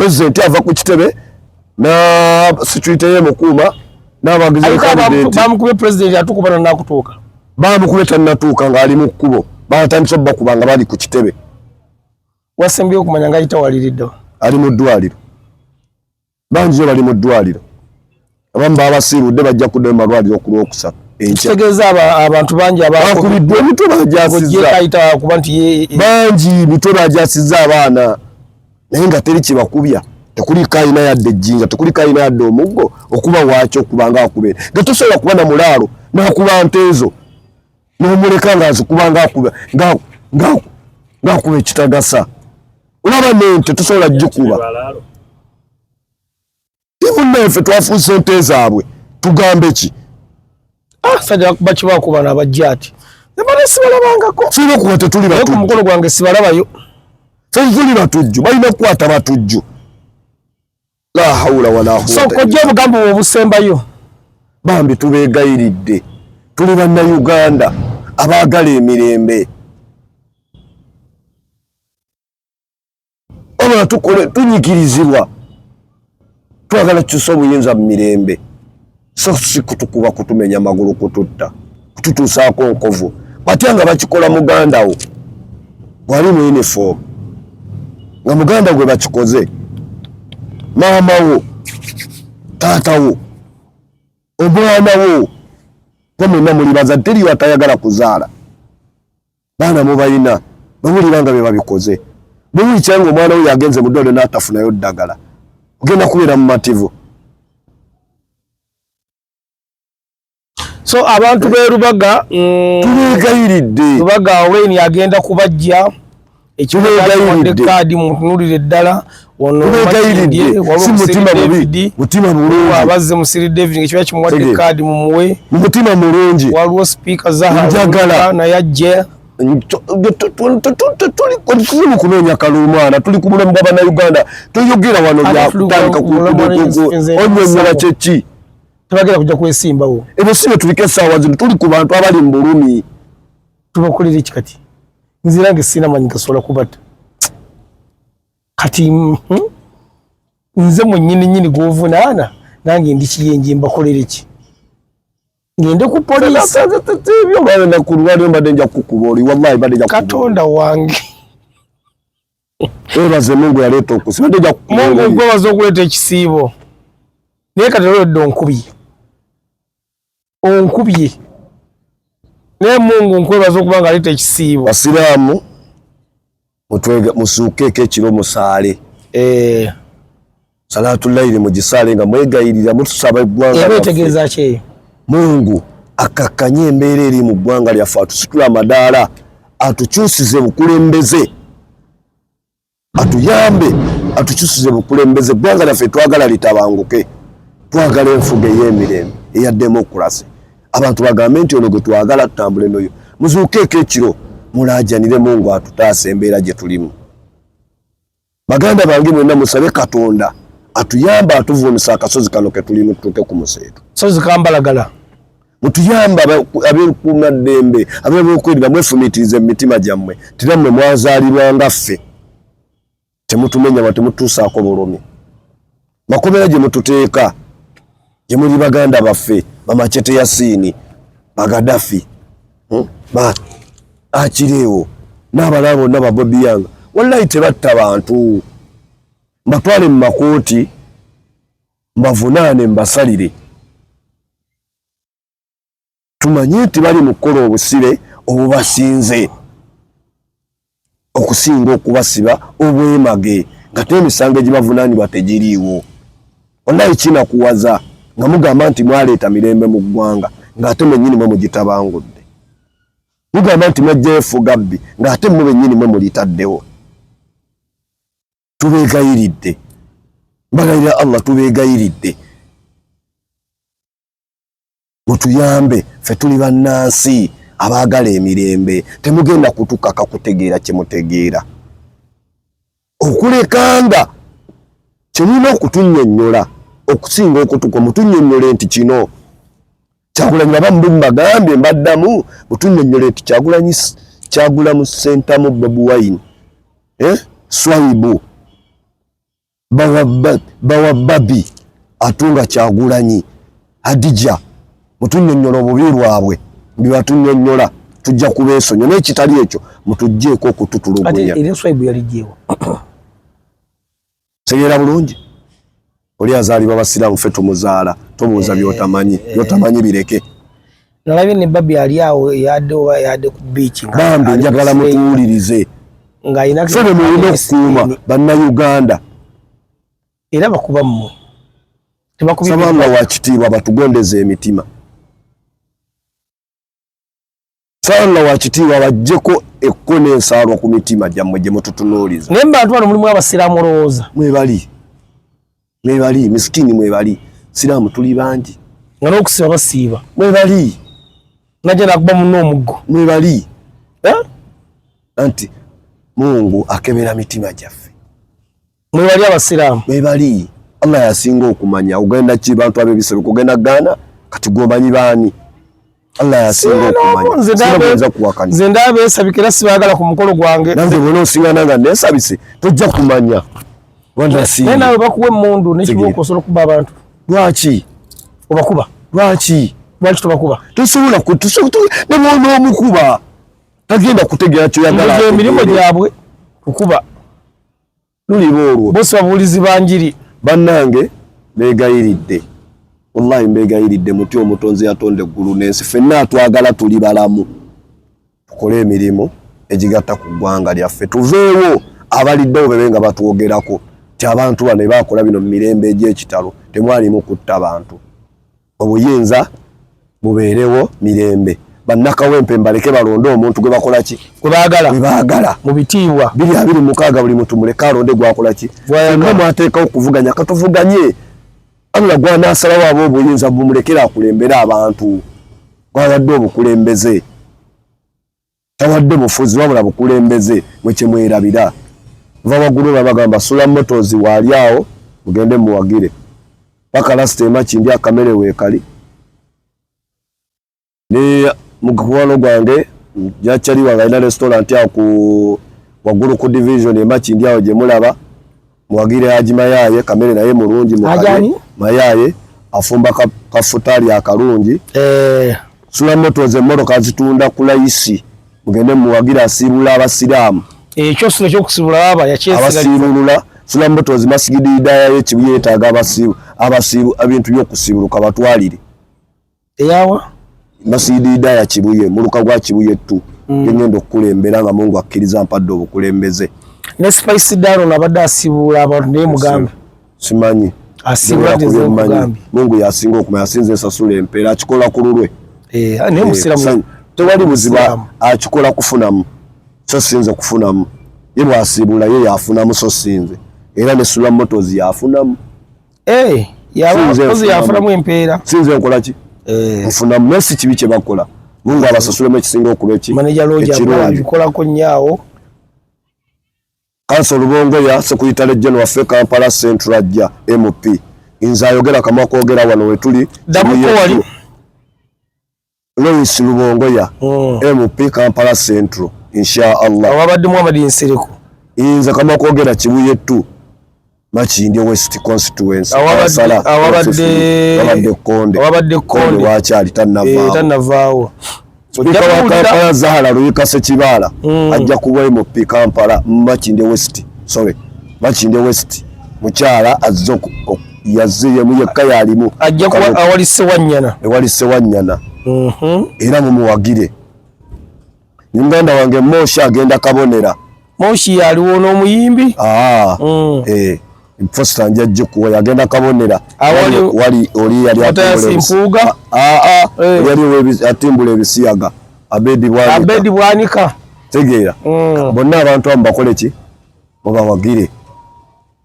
president ava ku kitebe na security ye mukuuma n'abagizi bamukube president atukuba nanakutuuka bamukube tannatuuka ng'ali mu kkubo baatandise obakuba nga bali ku kitebe wasembyeyo okumanya nga ayitawaliriddewa ali mu ddwaliro bangi yo bali mu ddwaliro abamu babasiibudde bajja kuddayo mu malwaliro ku lwokusatu ekitegeeza abantu bangi abakubiddwa emitwe bagyasizzakuba nti bangi mitwe bagyasizza abaana naye nga teri kyebakubya tekuliko alina yadde ejjinja tekuliko alina yadde omuggo okuba waaki okuba nga akubeera nga tosobola kuba na mulaalo nakuba nte ezo nomuleka nga azikuba ngakuba ekitagasa olaba nente tosobola jikuba timunneefe twafuna sente zaabwe tugambe ki ah, sajja bakibakubana abajja ati ebale sibalabangako fina okuba tetuli batu mukolo gwange sibalabayo tetuli batujju balina kukwata batujju la haula wala quwwata so kojja obugambo obusembayo bambi tubeegayiridde tuli bannayuganda abaagala emirembe wabula tukole tunyigirizibwa twagala tukyusa obuyinza mu mirembe so si kutukuba kutumenya magulu kututta kututuusaako nkovu batya nga bakikola muganda wo wali mu uniform nga muganda gwe bakikoze maama wo taata wo omwana wo gwe mwenna muli bazadde teriyo atayagala kuzaala baana mubalina bawulira nga bebabikoze buli kyanga omwana we yagenze mu ddwaliro n'atafunayo ddagala ogenda kubeera mumativu so abantu berubaga mm, tubegayiridde rubaga wayne agenda kubajja ekibegayiridde kaadi muntunulire ddala abazze musiri david ngekiba kimuwadde kaadi mumuwe mumutima mulungi waliwo sipiika zahaa naye ajja tuli mukunoonya kalumwana tuli ku bulamu bwa banauganda toyogera wano byatandika onyonyola kyeki tebagera kuja kwesimbawo ebyo si byetulika esaawa zino tuli ku bantu abali mu bulumi tubakolera ekikati nzirange sinamanyi gasobola kubata kati mm, mm, nze mwenyini nyini gwovunaana nange ndikiyenje mbakolere ki ngende ku poliisibyobanakulwalio mbadde nja kukuba oli wallahi badde nja katonda wange webaze mungu yaleeta okusi badde nja mungu gwebaza okuleeta ekisiibo naye kati olwedde onkubi onkubye naye mungu nkwebaza okuba nga aleeta ekisiibo basiraamu musuukeeko ekiro musaale eh. salaatu layiri mugisaale nga mwegayirira mutusaba eggwanga eba etegeeza ki eyo mungu akakkanye embeera eri mu ggwanga lyaffe atusitula amadaala atukyusize bukulembeze atuyambe atukyusize bukulembeze eggwanga lyaffe twagala litabanguke twagala enfuga ey'emirembe eya demokulasi abantu bagambe nti ono gwe twagala tutambule noyo muzuukeeko ekiro mulaajanire mungu atutaasa embeera gye tulimu baganda bange mwena musabe katonda atuyamba atuvuunisa akasozi kano ketulimu tutuuke ku museetu sozi kambalagala mutuyamba ab'ekuuma ddembe ab'ebyokwerinda mwefumiitirize mu mitima gyammwe tira mmwe mwazaalirwa nga ffe temutumenya wa temutuusaako bulumi makomera gye mututeeka gye muli baganda baffe bamacete ya siini bagadafi hmm? ba akireewo n'abalaa bonna babobiyanga wallayi tebatta bantu mbatwale mu makooti mbavunaane mbasalire tumanye nti bali mu kukola obusibe obubasinze okusinga okubasiba obwemage nga te emisango egibavunanibwa tegiriiwo onaye kinakuwaza nga mugamba nti mwaleeta mirembe mu ggwanga ng'ate mwennyini mwe mugitabangudde mugamba nti mwajjayo efugabbi ng'ate mwe bennyini mwe mulitaddewo tubeegayiridde mbagalira allah tubeegayiridde mutuyambe fe tuli bannansi abaagala emirembe temugenda kutukaka kutegeera kyemutegeera okulekanga kyemulina okutunyonyola okusinga okutuka mutunyonyole nti kino Kyagulanyi baba mbu mbagambye mbaddamu butunyonyola nti Kyagulanyi kyagula mu sentamu Bobi Wine eh? Swaibu bawa babi atunga Kyagulanyi Hadija mutunyonyola obubi bwabwe bibatunyonyola tujja kubeesonyo naye kitali ekyo mutugjeeko okututulugunya tegeera bulungi oli azaalibwa basiraamu fe tumuzaala tobuuza eh, byotamanyi eh. byotamanyi bireke nalabye ne babi ali awo yadde oba yadde ku biiki bambi njagala mutuwulirize fe be mulina okukuuma bannayuganda era bakuba mmwe tebakubisaba nga wakitiibwa batugondeza emitima Sala wakitiibwa bajjeko ekkono ensaalwa ku mitima gyammwe gye mututunuuliza. Naye mubantu bano mulimu abasiraamu olowooza? Mwebali, mwebali misikini, mwebali siraamu tuli bangi nga n'okusiba basiiba, mwebali najja nakuba munna omuggo, mwebali eh? anti Mungu akebera mitima gyaffe. mwebali abasiraamu mwebali allah yasinga okumanya ogenda ki bantu abebisebe kugenda gaana kati gwomanyi baani allah yasinga okumanyaoyinza kuwakanya nze ndaba esabika era sibagala ku mukolo gwange nange bona osiŋana nga nesabise tojja kumanya naye nawe bakuwa emundu nekibuuka osobola okuba abantu lwaki obakuba lwaki lwaki tobakuba tosobola nebona omukuba tagenda kutegera kyoyagala emirimu gyabwe kukuba luliba olwo bosi babuulizi banjiri bannange beegayiridde wallahi mbeegayiridde muti omutonzi yatonda eggulu n'ensi fenna atwagala tuli balamu tukole emirimu egigatta ku ggwanga lyaffe tuveewo abaliddewo bebe nga batwogerako ti abantu bano baakola bino mu mirembe egy'ekitalo temwalimu kutta bantu obuyinza bubeerewo mirembe bannakawempe mbaleke balonde omuntu gwe bakola ki gwe baagala gwe baagala mu bitiibwa biri abiri mukaaga buli muntu muleke alonde gwakola ki nga mwateekawo okuvuganya katuvuganye allah gwanaasalawo aba obuyinza bumulekera akulembere abantu gwayadde obukulembeze tawadde bufuzi wabula bukulembeze mwe kyemwerabira va waggulu babagamba sula motozi waali awo mugende muwagire paka lasita emakindi akamere weekali ne mukuwano gwange jakyali wange alina restaurant awo ku waggulu ku division emakindi awo gyemulaba Muwagire Haji Mayaye kamere naye mulungi mukaye Mayaye afumba kafutaali ka akalungi eh. sula moto ze mmotoka zitunda ku layisi mugende muwagire asiibula abasiraamu ekyo eh, sula ekyokusibula aba yakyesiabasiibulula sula moto ze masigidi idaya yekibi yeetaaga abasiibu abasiibu ebintu byokusibuluka batwalire eyawa masidiida ya kibuye muluka gwa kibuye ttu mm. gengenda okukulembera nga mungu akkiriza mpadde obukulembeze ne spice daro nabadde asibuula abantu naye mugambe simanyi mungu yasinga okumanya asinza ensasula empeera akikola ku lulwe eh, ah, eh, tewali buziba akikola kufunamu so sinze kufunamu ye bwasiibula ye yafunamu so sinze era ne sula motos yafunamu Eh, yafulamu empeera sinze nkolaki eh. nfuna mesi kibi kyebakola mungu eh. abasasulemu ekisinga okuba ekirungikolako nyaawo kanso lubongoya sekuyita lejjen waffe kampala central ajja mp nze ayogera kamwa kogera wano wetuli Lois Lubongoya MP hmm. Kampala Central insha Allah awabadde Muhammad Nsereko inza kama kwogera kibuye tu Makindye West constituency awabadde awabadde Konde awabadde Konde wakyali tanavaawo eh, tanavaawo Spika wa Kampala Zahara Luyika Sekibaala hmm. ajja kuba MP Kampala Makindye West sorry Makindye West mukyala azze yazze yemu yekka yalimu ajja kuwa awali sewanyana ewali sewanyana mhm. era mumuwagire muganda wange moshi agenda kabonera moshi yaliwo n'omuyimbi ah, mm. eh, fosta njajje kuwa yagenda kabonera wali oli yali atimbulempuuga ah, ah, eh. yali atimbula ebisiyaga abedi bwanika tegeera mm. bonna abantu amu bakole ki mubawagire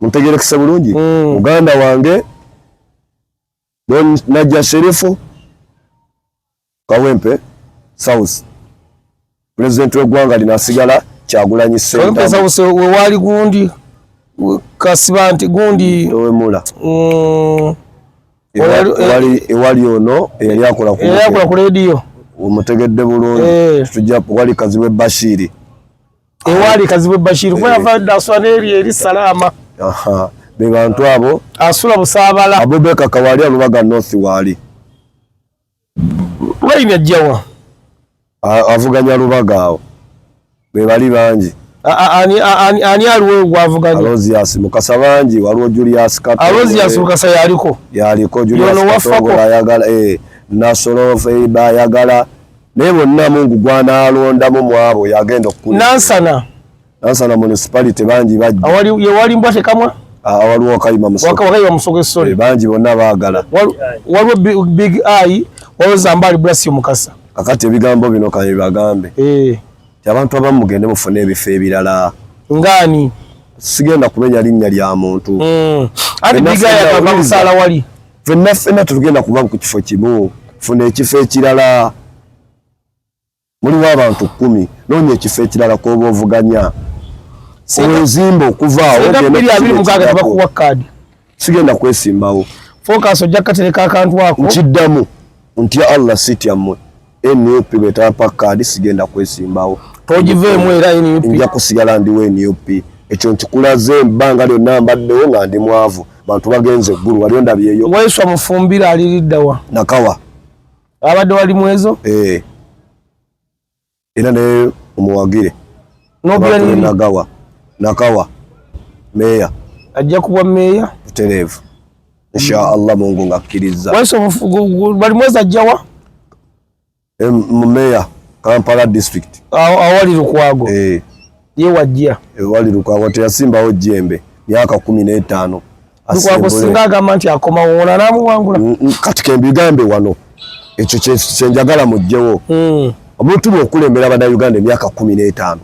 muntegerekese bulungi mm. muganda wange najja sherifu kawempe south pulezidenti w'eggwanga lino asigala kyagulanyi sewewaali gundi kasiba nti gundi ewemula mm. ewali ono eyali akola ku lediyo omutegedde bulungi eh. tujja wali kaziwe bashiri ewaali kazibwe bashir kuba yava dda asula n'eri eri salaama be bantu abo asula busaabala abubeka kawaali alubaga north waali wayini ajjawa avuganya lubaga awo be bali bangi ani aliwo gwavuganya alozias mukasa bangi waliwo julias kato alozias mukasa yaliko yaliko julias kato ayagala eh nasolo feiba ayagala naye bonna mungu gwanaalondamu mwabo yagenda okukula nansana nansana municipality bangi bajjewali mbwa tekamwa ah, waliwo wakayima wakayima musogesole eh, bangi bonna baagala waliwo big i waliwo zambaali bulasi mukasa kakati ebigambo bino kabibagambe eh. ti abantu abamu mugende mufune ebifo ebirala ngaani sigenda kumenya linnya lya muntu hmm. ati big i akamusala wali fenna fenna tetugenda kuba ku kifo kimu funa ekifo ekirala muliwo abantu kumi noonya ekifo ekirala kwoba ovuganya owezimba okuvaawomugaagatebakuwa kaadi sigenda kwesimbawo focus ojja katereka akantu ako nkiddamu Ntya Allah sitya mmwe. NUP bwetapa kaadi sigenda kwesimbawo. Togiveemu era NUP. Nja kusigala ndiwo NUP. Ekyo nkikulaze ebbanga lyonna mbaddewo nga ndi mwavu. Bantu bagenze eggulu wali ondabyeyo. Waiswa mufumbira aliriddawa. Nakawa. Abadde wali mwezo? Eh. era naye omuwagire nagawa nakawa meeya ajja kubwa meeya butereevu insha allah mungu ngakkiriza bali mwezi ajjawa mumeeya kampala district awali lukwago eh. ye wajja ewali lukwago teyasimbawo jembe myaka kumi n'etaano lukwago singa agamba nti akomawo ona namuwangula mm, mm, kati kembigambe wano ekyo kyenjagala mujjewo mm. omuntu bwokulemera banauganda emyaka kumi n'etaano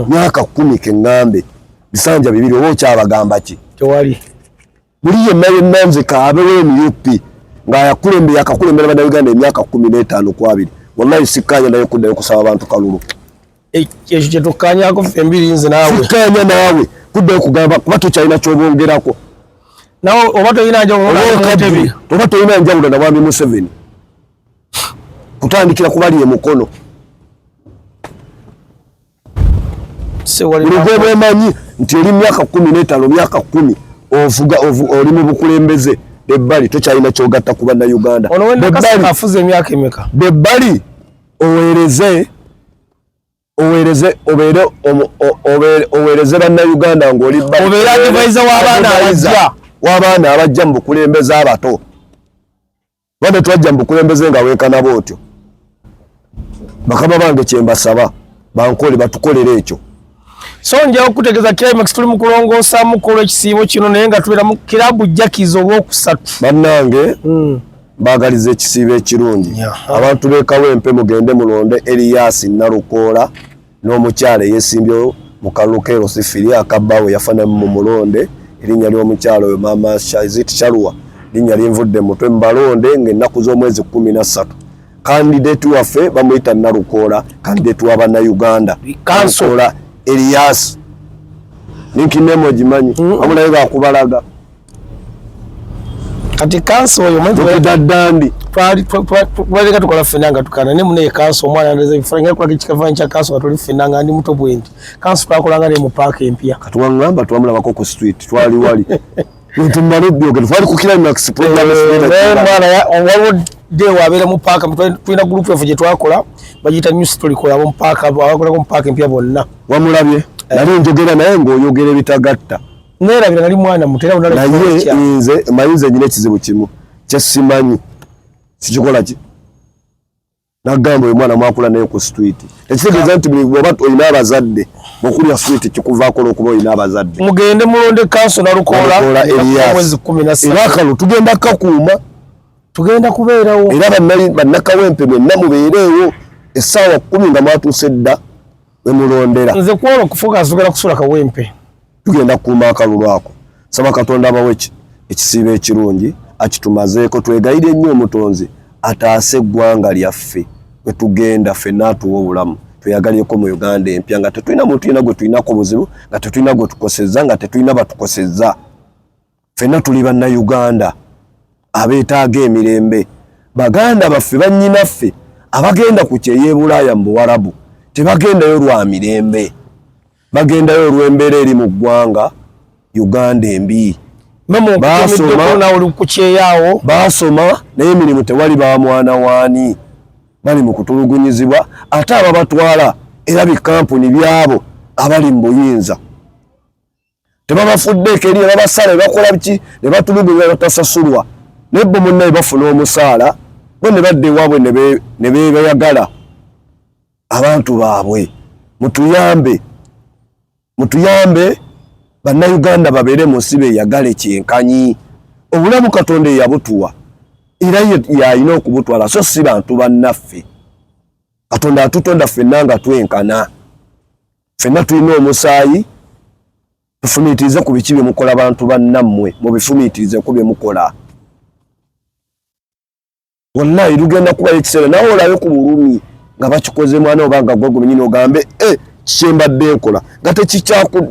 myaka kumi keŋŋambe bisanja bibiri oba okyabagamba ki tewali buli yenna yenna nze kaabewo emup ngaayakulembe yakakulembera banauganda emyaka kumi n'etaano kwabiri wallahi sikkaanya naye okuddayo okusaba abantu kalulu ekyo kyetukkanyako ffe embiri nze naawe tukkanya naawe kuddayo kugamba kuba tukyalina kyobongerako nawe oba tolina njawulokabi oba tolina njawulo na mwami museveni kutandikira kubali e mukono lugo bwemanyi nti oli myaka kumi netano myaka kumi ovuga oli mu bukulembeze ebbali tokyalina kyogatta kuba na uganda bebali oweereze oweereze obeere oweereze bannayuganda ng'oli obeere adivaiza w'abaana abajja w'abaana abajja mu bukulembeze abato ba tetwajja mu bukulembeze nga weekanaba otyo bakama bange kyembasaba bankoole batukolere ekyo So nja okutegeza climax tuli mu kulongoosa mukolo ekisiibo kino naye nga tubeera mu kirabu jjakiza olwokusatu bannange hmm. baagaliza ekisiibo ekirungi abantu beekawo empe mugende mulonde eliyasi nalukoola n'omukyala eyesimbyo mu kalulu kerosifiri akabbaawe yafanamu mu mulonde erinnya ly'omukyala oyo maama shazit shalwa linnya linvudde mutwe mubalonde ng'ennaku z'omwezi kumi na ssatu kandidate waffe bamuyita nalukoola kandidate wa bannayuganda kansola elias ninkinemu ogimanyi amulayo bakubalaga kati kanso oyo mwedaddandi twaleka tukola ffena nga tukana ne munaye kanso omwana ndeza ebifaanyi nga kulaga ekikafaanyi kya kanso nga tuli ffena nga ndi muto bwendi kanso twakolanga ne mu paaka empya kati wangamba twamulabako ku street twali wali Ntumale byogero twali ku climax program eh, mwana ya waliwo de wabeera mu paaka tulina group yaffe gye twakola bagiyita new story kola mu paaka abakolako mu paaka empya bonna wamulabye eh. nali njogera naye ng'oyogera ebitagatta neerabira nali mwana muto era naye nze mayinza enyina ekizibu kimu kyesimanyi sikikola ki nagamba oyo mwana mwakula naye ku street ekitegeeza nti bwoba olina abazadde okulya street kikuvaako olwokuba olina abazadde mugende mulonde kanso nalukoola elias era akalo tugenda kakuuma tugenda kubeerawo era bannakawempe mwenna mubeereewo essaawa kumi nga mwatuuse dda wemulondera nze kwolo okufuga nzogera kusula kawempe tugenda kukuuma akalulu ako saba katonda abawe ekisiibo ekirungi akitumazeeko twegayire nnyo omutonzi ataase eggwanga lyaffe wetugenda fenna atuwa obulamu tweyagaleko mu uganda empya nga tetulina muntu yena gwe tulinako buzibu nga tetulina gwe tukosezza nga tetulina batukosezza Fenna tuli banna Uganda abeetaaga emirembe. Baganda baffe bannyinaffe abagenda ku kyeyo ebulaaya mu buwarabu tebagendayo lwa mirembe, bagendayo olw'embeera eri mu ggwanga Uganda embi. Baasoma naye emirimu tewali, ba mwana waani bali mu kutulugunyizibwa, ate ababatwala era bikampuni byabo abali mu buyinza. tebabafuddeeko eri nebabasaala nebakola biki nebatulugunya batasasulwa naye bo munnaye bafuna omusaala bo ne badda ewaabwe ne bebayagala abantu baabwe mutuyambe mutuyambe bannayuganda babeere mu nsi beyagale kyenkanyi obulamu katonda eyabutuwa era yalina okubutwala so si bantu bannaffe katonda atutonda ffenna nga twenkana Fenna tulina omusaayi tufumiitirize ku biki bye mukola bantu bannammwe mubifumiitirize ku bye mukola wallahi lugenda kubayo ekiseera nawe olabe ku bulumi nga bakikoze mwana oba nga gwegwe nyini ogambe e kyembadde nkola nga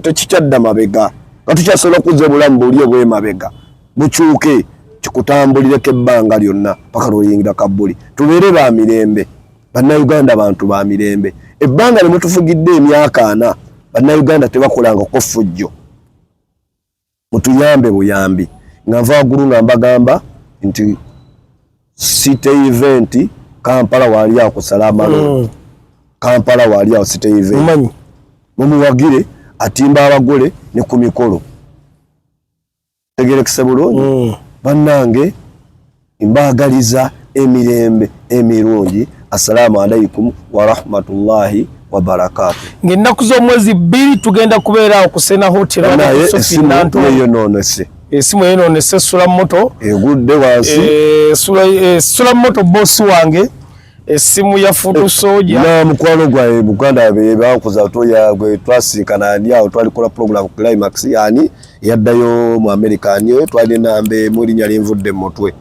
tekikyadda mabega nga tukyasobola okuzza obulamu buli obwemabega mukyuke kikutambulireko ebbanga lyonna paka lwoyingira kabbuli tubeere ba mirembe Bannayuganda bantu ba mirembe. Ebbanga lye mutufugidde emyaka ana, Bannayuganda tebakolanga ko ffujjo. Mutuyambe buyambi. Nga nva waggulu nga mbagamba nti city event Kampala waali awo kusala amalonda. Mm. Kampala waali awo city event. Mumanyi. Mumuwagire atimba abagole ne ku mikolo. tegerekese bulungi mm. bannange mbaagaliza emirembe emirungi assalaamu alaikum warahmatullahi wabarakatu ngaennaku z'omwezi bbiri tugenda kubeera awo kusena hotelnaye esimu eyonoonese esimu eyonoonese esula moto egudde wansi esula eh, eh, moto bosi wange esimu ya futu eh, soja na mukwano gwa eh, Buganda be bakuza to ya gwe twasinkana ani awo twali kola program climax yani yaddayo mu America ani eh, twali nambe muri nyali mvudde mutwe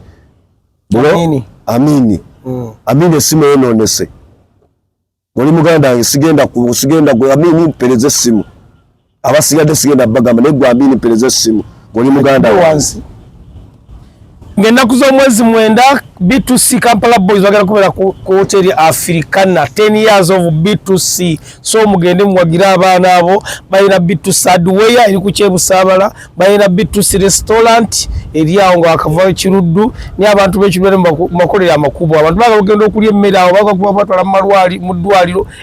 amini amini mm. amini esimu eno nese muri muganda sigenda ku sigenda gwe amini pereze simu abasigadde sigenda bagamba naye gwambini mpereza essimu oli muganda wansi ngaennaku z'omwezi mwenda b2c kampala boys bagenda kubeera ku hoteri africana 10 years of b2c so mugende muwagire abaana abo balina b2c adweya eri ku kyebusaabala balina b2c restaurant eri awo nga wakavayo kiruddu naye abantu bekibeere mumakolero amakubo abantu baga bagenda okulya emmere awo bagakuba batwala mu ddwaliro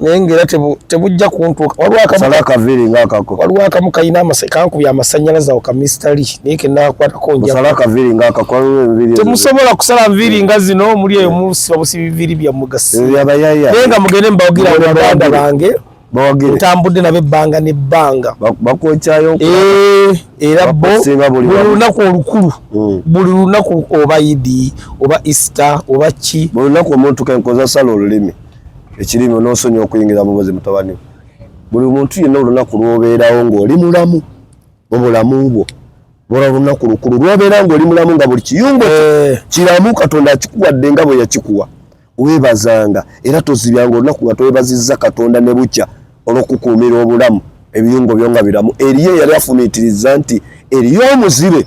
naye ngaera tebujja kuntuuka waliwo akamu kalina kankubya amasannyalaze awo ka mr lee naye kenakwatako njatemusobola kusala nviiri nga zino muli eyo musiba busiba biviiri byammwe gasinaye eh, nga mugende mbawagira baganda bange ntambudde nabo ebbanga nebbanga eh, era bo buli lunaku olukulu hmm. buli lunaku oba idi oba easter oba ki buli lunaku omuntu kenkozasala olulimi ekirimi onosonyiwa okuyingira mubozi mutabani we buli muntu yenna olunaku lwobeerawo ngaoli mulamu mubulamu bwo lwola olunaku lukulu lwobeera ngaoli mulamu nga buli kiyungo eh. kiramu katonda akikuwadde nga bwe yakikuwa webazanga era tozibyanga olunaku nga twebazizza katonda ne bukya olwokukuumira obulamu ebiyungo byo nga biramu eriyo eyali afumiitiriza nti eriyo omuzibe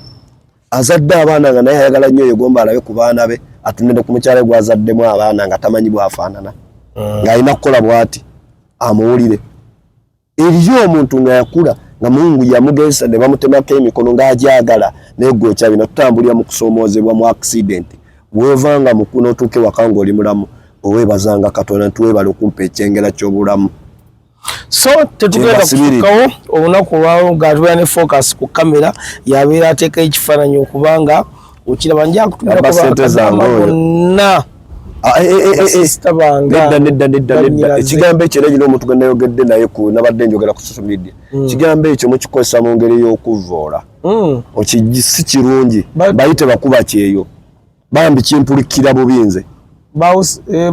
azadde abaana nga naye ayagala nnyo yegomba alabe ku baana be atunde ne ku mukyala gwe azaddemu abaana nga tamanyi bwafaanana ah. ng'alina kukola bwati amuwulire eriyo omuntu nga yakula nga mungu yamugezesa ne bamutemako emikono ng'agyagala naye gwe okyabi natutambulira mu kusoomoozebwa mu akisidenti weeva nga mukuna otuuke waka ng'oli mulamu owebazanga katonda nti webala okumpa ekyengera ky'obulamu so tetugenda kufukawo olunaku olwalo nga tubeera ne focus ku kamera yabeera ateeka ekifaananyi okubanga okiraba njakutumirakubakadama gonna ekigambo ekyo era nyina omuntu gwe nayogedde naye nabadde njogera ku social media hmm. ekigambo ekyo mukikozesa mu ngeri y'okuvvoola hmm. si kirungi bayite bakuba kyeyo bambi kimpulikira bubi nze eh,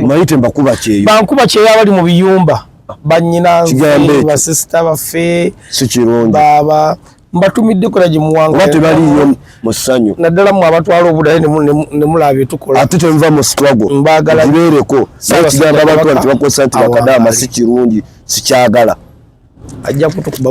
mayite mbakuba kyeyo bankuba kyeyo abali mu biyumba banyina basisita baffe sikirungi baba mbatumidde kola gye muwanga oba tebaliyo mu ssanyu naddala mwe abatwala obudale ne mulaba bye tukola ate tenva mu struggle mbagala gibeereko naye kigamba abantu nti bakozesa nti bakadaama si kirungi sikyagala ajja kutukuba